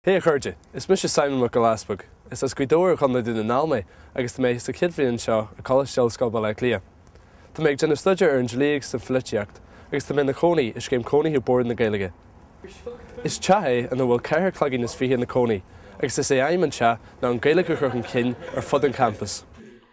Hé a chairde, is mise Simon Mac Giolla Easpaig. Is as Gaoth Dobhair i gContae Dún na nGall mé agus tá mé sa chéad bhliain anseo i gColáiste Ollscoile Bhaile Átha Cliath. Tá mé ag déanamh staidéar ar an dlí agus an pholaitíocht agus tá mé ina chónaí i scéim cónaithe Bord na Gaeilge. Is teach é ina bhfuil ceithre cloigín is fiche ina cónaí agus is é aidhm an teach ná an Ghaeilge a chur chun cinn ar fud an champais.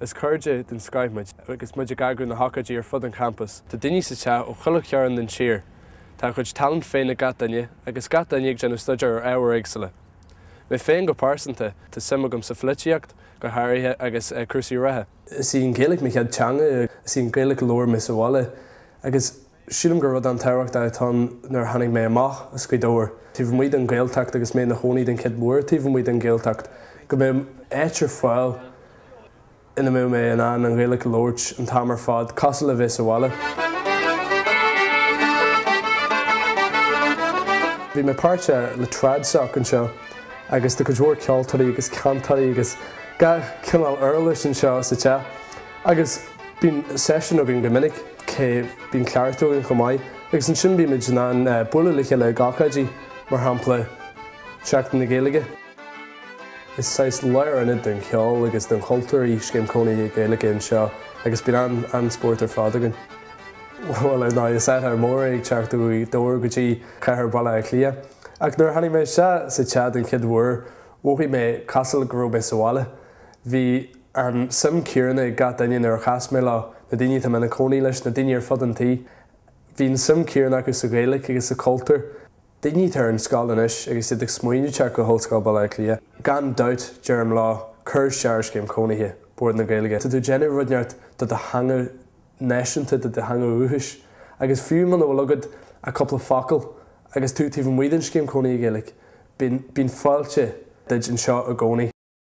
Is cairde den scoith muid agus muid ag eagrú na hócáidí ar fud an champais. Tá daoine sa teach ó chuile chearn den tír. Tá a gcuid talent féin ag gach duine agus gach duine ag déanamh staidéar ar ábhair éagsúla. Mé féin go pearsanta, tá suim agam sa pholaitíocht, go háirithe, agus cúrsaí reatha. Is í an Ghaeilge mo chéad teanga, is í an Ghaeilge a labhair mise sa bhaile agus Sílim gur rud an-tábhachtach atá ann nuair a tháinig mé amach as Gaoth Dobhair, taobh amuigh den Ghaeltacht agus mé ina chónaí den chuid mhór taobh amuigh den Ghaeltacht, go mbeadh áit ar fáil ina mbeadh mé in ann an Ghaeilge a labhairt an t-am ar fad, cosúil le bheith sa bhaile. Bhí mé páirteach le Trad Soc anseo agus tá cuid mhór ceoltóirí agus cantairí agus gach cineál uirlis anseo sa teach. Agus bíonn seisiúin againn go minic, cé, bíonn cleachtadh againn chomh maith agus ansin bímid in ann bualadh le chéile ag ocáidí, mar shampla Seachtain na Gaeilge. Is saghas lárionad den cheol agus den chultúr í Scéim Cónaithe Gaeilge anseo agus bíonn an-spórt ar fad againn. Bhuel, ar ndóigh, is athrú mór é ag teacht ó Ghaoth Dobhair go dtí cathair Bhaile Átha Cliath ach nuair a tháinig mé isteach sa teach den chéad uair mhothaigh mé cosúil go raibh mé sa bhaile. Bhí an suim chéanna ag gach duine nuair a chas mé leo, na daoine atá mé ina cónaí leis, na daoine ar fud an tí. Bhí an suim chéanna acu sa Ghaeilge agus sa chultúr. Daoine atá ar an scoil anois agus iad ag smaoineamh teacht go hOllscoil Bhaile Átha Cliath. Gan dabht, deirim leo, cuir isteach ar scéim chónaithe, Bord na Gaeilge. Tá tú ag déanamh rud ceart do do theanga náisiúnta, do do theanga dhúchais. Agus fiú muna bhfuil agat ach cúpla focal agus tú taobh amuigh den scéim chónaithe Gaeilge, bíonn fáilte duit anseo i gcónaí.